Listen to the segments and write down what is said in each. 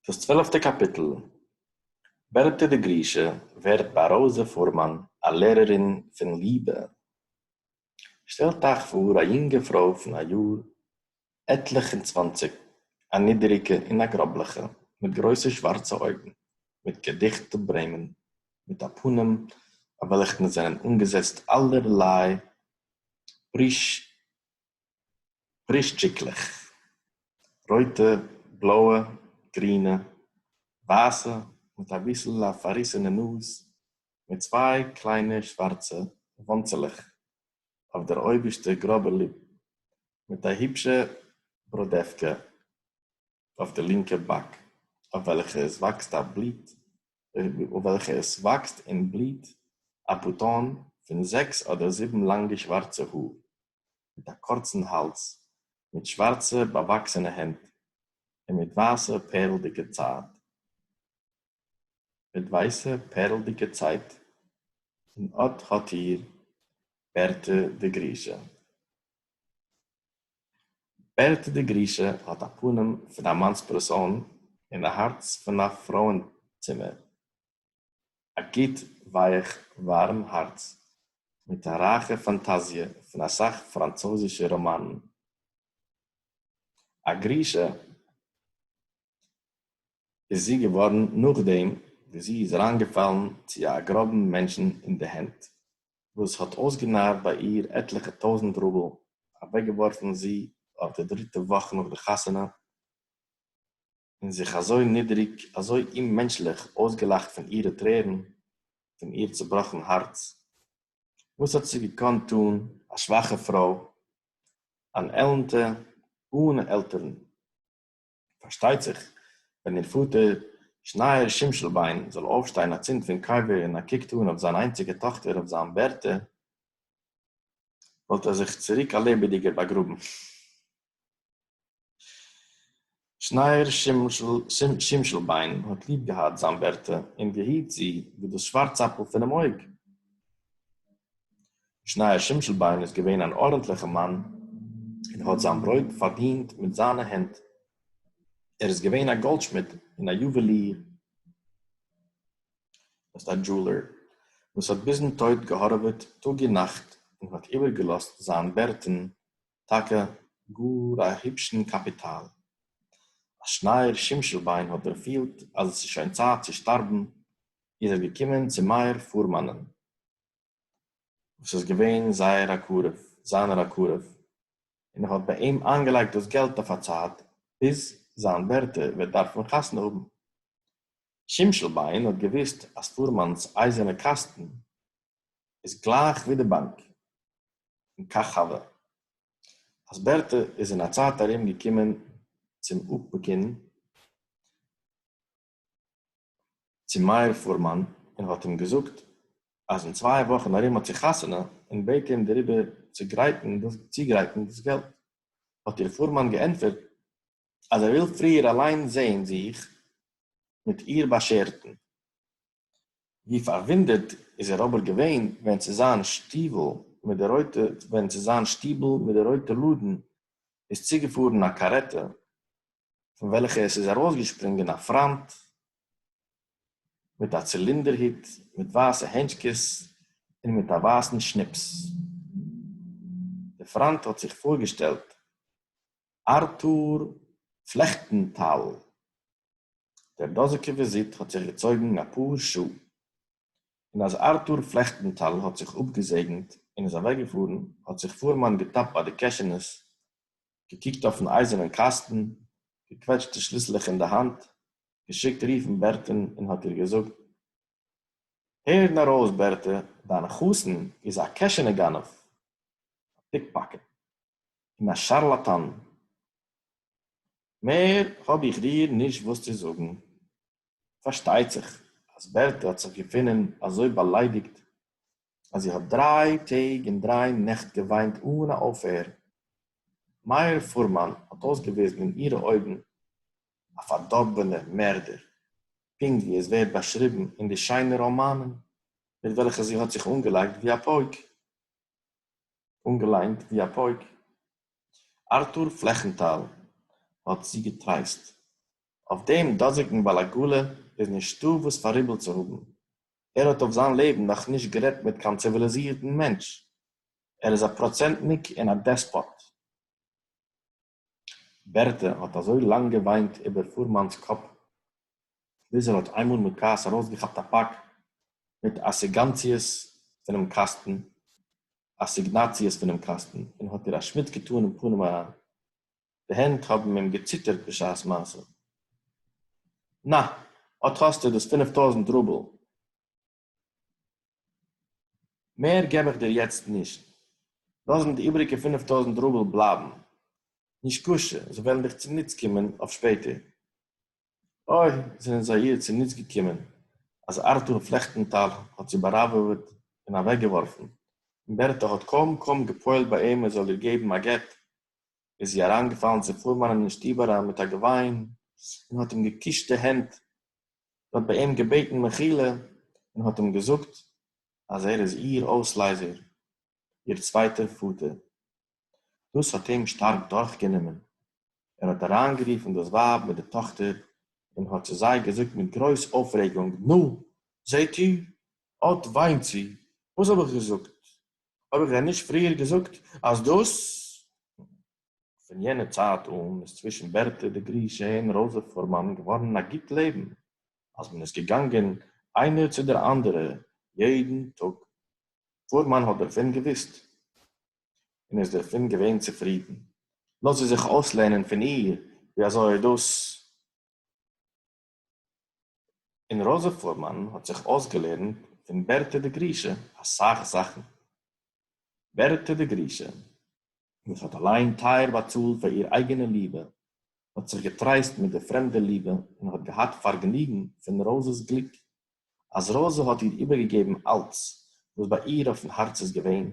דאס צוועלפטע קאפיטל, בערטע די גרושה ווערט ביי ראזע פורמאן א לערערין פון ליבע. שטעלט אייך פאר א יונגע פרוי פון א יאר עטליך און צוואנציג, א נידעריגע און א גראבליכע, מיט גרויסע שווארצע אויגן, מיט געדיכטע ברעמען, מיט א פנים אויף וועלכן זענען אנגעזעצט אלערליי פריש פריש טשיקלעך, רויטע, בלויע, גרינע, ווייסע, מיט אביסל א פארריסענע נאז, מיט צוויי קליינע שווארצע וואנצעלעך אויף דער אויבערשטע גראבע ליפ, מיט א היבשע בראדעווקע אויף די לינקע באק, אויף וועלכע עס וואקסט א בליט אויף וועלכע עס וואקסט און בליט א פוטאן פון זעקס אדער זיבן לאנגע שווארצע האר. מיט אַ קורצן האַלדז, מיט שװאַרצע באַװאַקסענע הענט און מיט װײַסע פּערלדיקע צײַט, מיט װײַסע פּערלדיקע צײַט, און אָט האָט איר, בערטע די גרישע. בערטע די גרישע האָט אַ פּנים פֿון אַ מאַנספּערסאָן און אַ האַרץ פֿון אַ פֿרױענצימער. א גוט ווייעך ווארעם הארץ מיט א רייכע פאנטאזיע פון אסאך פראנצויזישע ראמאנען. א גרושה איז זי געווארן נאכדעם וואס זי איז אריינגעפאלן צו א גראבן מענטשן אין די הענט וואס האט אויסגענארט ביי איר עטליכע טויזנט רובל אוועקגעווארפן זי אויף די דריטע וואך נאך די חתונה, און זיך אַזױ נידעריק, אַזױ אוממענטשלעך אױסגעלאַכט פֿון אירע טרערן, פֿון איר צעבראָכן האַרץ. װאָס האָט זי געקאָנט טאָן, אַ שװאַכע פֿרױ, אַן עלנטע, אָהנע עלטערן? פֿאַרשטײט זיך, װען איר פֿאָטער, שנײער שימשלבײן, זאָל אױפֿשטײן אַצינד פֿון קבֿר און אַ קוק טאָן אױף זײַן אײנציקע טאָכטער, אױף זײַן בערטע, װאָלט ער זיך צוריק אַ לעבעדיקער באַגראָבן. שניאור שימשלביין האָט ליב געהאַט זיין בערטע און געהיט זי ווי דאָס שוואַרצאַפּל פונעם אויג. שניאור שימשלביין איז געווען אַן אָרענטליכער מאַן און האָט זיין ברויט פאַרדינט מיט זיינע הענט. ער איז געווען אַ גאָלדשמיד און אַ יוּוועליר, דאָס הייסט אַ דזשולער, וואָס האָט ביזן טויט געהאָרעוועט טאָג און נאַכט און האָט איבערגעלאָזט זיין בערטען טאַקע גאָר אַ היפּשן קאַפּיטאַל. אַז שנייר שימשלביין האָט דערפֿילט, אַז עס איז שוין צײַט צו שטאַרבן, איז ער געקומען צו מאיר פֿורמאַנען, וואָס איז געווען זייער אַ קרוב, זײַנער אַ קרוב, און ער האָט בײַ אים אײַנגעלייגט דאָס געלט אויף אַ צײַט, ביז זײַן בערטע וועט דאַרפֿן חתונה האָבן. שימשלביין האָט געוווּסט, אַז פֿורמאַנס אײַזערנע קאַסטן איז גלייך ווי די באנק אין קאכאווע. אז בערטע איז אין א צייט ארום געקומען צום אפיקון צו מאיר פורמאן און האט אים געזאגט אז אין צוויי וואכן ארום האט זי חתונה און בעט אים דעריבער צו גרייטן דאס צוגרייטן דאס געלט האט איר פורמאן געענטפערט אז ער וויל פריער אליין זעהן זיך מיט איר באשערטן. ווי פארוואונדערט איז ער אבער געווען ווען צו זיין שטיוול מיט די רויטע ווען צו זיין שטיבל מיט די רויטע לאדן איז צוגעפארן א קארעטע פון וועלכע עס איז ארויסגעשפרינגען א פריינט מיט א צילינדער הוט מיט ווייסע הענטשקעס און מיט א ווייסן שניפס דער פריינט האט זיך פארגעשטעלט ארטור פלעכטענטאל. דער דאָזיקער װיזיט האָט זיך געצױגן אַ פּאָר שעה, און אַז אַרטור פֿלעכטנטאַל האָט זיך אָפּגעזעגנט און איז אַװעקגעפֿאָרן, האָט זיך פֿורמאַן געטאַפּט בײַ די קעשענעס, געקוקט אױפֿן אײַזערנעם קאַסטן, געקװעטשט די שליסלעך אין דער האַנט, געשיקט רופֿן בערטען און האָט איר געזאָגט, הער נאָר אױס, בערטע, דײַן חתן איז אַ קעשענע-גנבֿ, אַ פּיקפּאַקעט און אַ שאַרלאַטאַן! מער האב איך דיר נישט וואס צו זאגן. פארשטייט זיך אז בערטע האט זיך געפונען אזוי באליידיגט אז זי האט דריי טעג און דריי נעכט געוויינט אן א אויפהער. מאיר פורמאן האט אויסגעוויזן אין אירע אויגן א פארדארבענער מערדער, פונקט ווי עס ווערט באשריבן אין די שיינע ראמאנען מיט וועלכע זי האט זיך אנגעלייגט ווי א פויק. אָנגעלײענט װי אַ פּױק. אַרטור פֿלעכנטאַל האָט זי געטרײסט. אױף דעם דאָזיקן באַלאַגאָלע איז נישטאָ װאָס פֿאַראיבל צו האָבן. ער האָט אױף זײַן לעבן נאָך נישט גערעדט מיט קײן ציװיליזירטן מענטש. ער איז אַ פּראָצענטניק און אַ דעספּאָט. בערטע האָט אַזױ לאַנג געװײנט איבער פֿורמאַנס קאָפּ, ביז ער האָט אײנמאָל מיט כּעס אַרױסגעכאַפּט אַ פּאַק מיט אַסיגאַנציעס פֿונעם קאַסטן, אַסיגנאַציעס פֿונעם קאַסטן, און האָט איר אַ שמיץ געטאָן אין פּנים אַרײַן. די הענט האָבן אים געציטערט בשעת-מעשׂה. נאַ, אָט האָסטו דאָס פֿינף טױזנט רובל! מער געב איך דיר יעצט נישט, לאז מיר די איבעריגע פינף טויזנט רובל בלייבן, נישקשה, זיי וועלן דיך צוניץ קומען אויף שפעטער. אוי, זענען זיי איר צוניץ געקומען, אז ארטור פלעכטנטאל האט זי באראוועוועט און אוועקגעווארפן, און בערטע האט קוים קוים געפועלט ביי אים ער זאל איר געבן א גט, איז זי אריינגעפאלן צו פורמאנען אין שטוב אריין מיט א געוויין, און האט אים געקושט די הענט, האט ביי אים געבעטן מחילה און האט אים געזאגט אז ער איז איר אויסלייזער, איר צווייטער פאטער. דאס האט אים שטארק דורכגענומען, ער האט אריינגערופן דאס ווייב מיט די טאכטער און האט צו זיי געזאגט מיט גרויס אויפרעגונג, נו, זעט איר, אט וויינט זי, וואס האב איך געזאגט? האב איך דען נישט פריער געזאגט אז דאס. פֿון יענער צײַט אָן איז צװישן בערטע די גרישע און ראָזע פֿורמאַן געװאָרן אַ גוט לעבן, אַז מען איז געגאַנגען אײנער צו דער אַנדערער יעדן טאָג. פֿורמאַן האָט דערפֿון געװוּסט און איז דערפֿון געװען צופֿרידן. לאָז זי זיך אױסלערנען פֿון איר, װי אַזױ דאָס און ראָזע פֿורמאַן האָט זיך אױסגעלערנט פֿון בערטע די גרישע אַ סך זאַכן. בערטע די גרישע, װאָס האָט אַלײן טײַער באַצאָלט פֿאַר איר אײגענע ליבע, האָט זיך געטרײסט מיט דער פֿרעמדער ליבע און האָט געהאַט פֿאַרגעניגן פֿון ראָזעס גליק אַז ראָזע האָט איר איבערגעגעבן אַלץ, וואָס בײַ איר אויפֿן האַרץ איז געווען,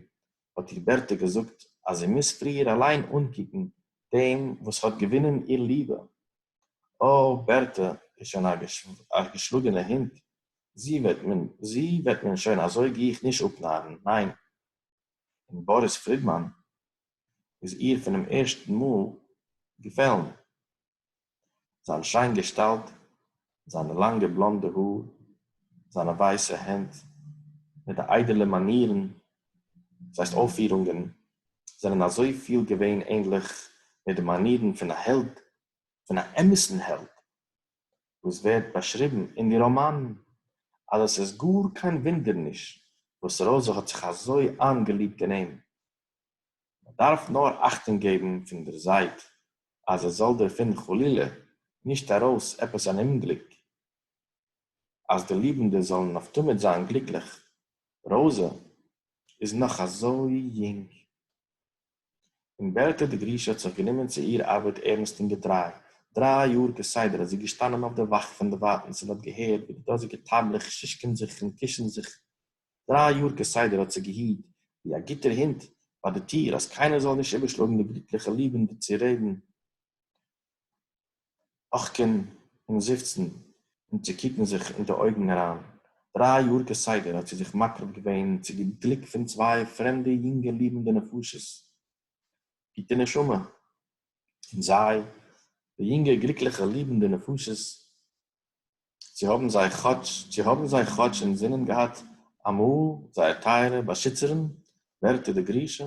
האָט איר בערטע געזאָגט, אַז זי מוז פֿריִער אַליין אָנקוקן דעם, וואָס האָט געוווּנען איר ליבע. אָ, בערטע איז שוין אַ געשלאָגענע הונט, זי וועט מען, זי וועט מען שוין אַזוי גיך נישט אָפּנאַרן, ניין! און באָריס פֿרידמאַן איז איר פֿונעם ערשטן מאָל געפֿעלן. זיין שיין געשטאלט, זיינע לאנגע בלאנדע האר, זיינע ווייסע הענט מיט די איידעלע מאנירן, דאס הייסט אויפפירונגען, זענען אזוי פיל געווען ענדליך מיט די מאנירן פון א העלד, פון א אמת'ן העלד, וואס ווערט באשריבן אין די ראמאנען, אז עס איז גאר קיין ווינדער נישט וואס רויזע האט זיך אזוי איינגעליבט אין אים. מען דארף נאר אכטונג געבן פון דער זייט אז עס זאל דערפון חלילה נישט ארויס עפעס אן אומגליק, אז די ליבנדע זאלן אויף תמיד זיין גליקליך. ראוזע איז נאך אזוי יונג. און בערטע די גרישע האט זיך גענומען צו איר ארבעט ערנסט און געטריי. דריי יאר כסדר איז זי געשטאנען אויף דער וואך פון דערווייטנס און האט געהערט ווי די דאזיגע טייבלעך שישקען זיך און קישן זיך דריי יאר כסדר האט זי געהיט ווי א גוטער הונט ביי די טיר אז קיינער זאל נישט איבערשלאגן די גליטליכע ליבן די צו רעדן אךקען און זיפצן און צו קוקן זיך אין די אויגן אריין, דריי יאר כסדר האט זי זיך מקרב געווען צו די גליק פון צוויי פרעמדע יונגע ליבנדע נפשות גוטע נשמה און זיי די יונגע גליקליכע ליבנדע נפשות צו האָבן זיי כאָטש, צו האָבן זיי כאָטש אין זינען געהאַט אַ מאָל זייער טייערע באַשיצערין, בערטע די גרישע?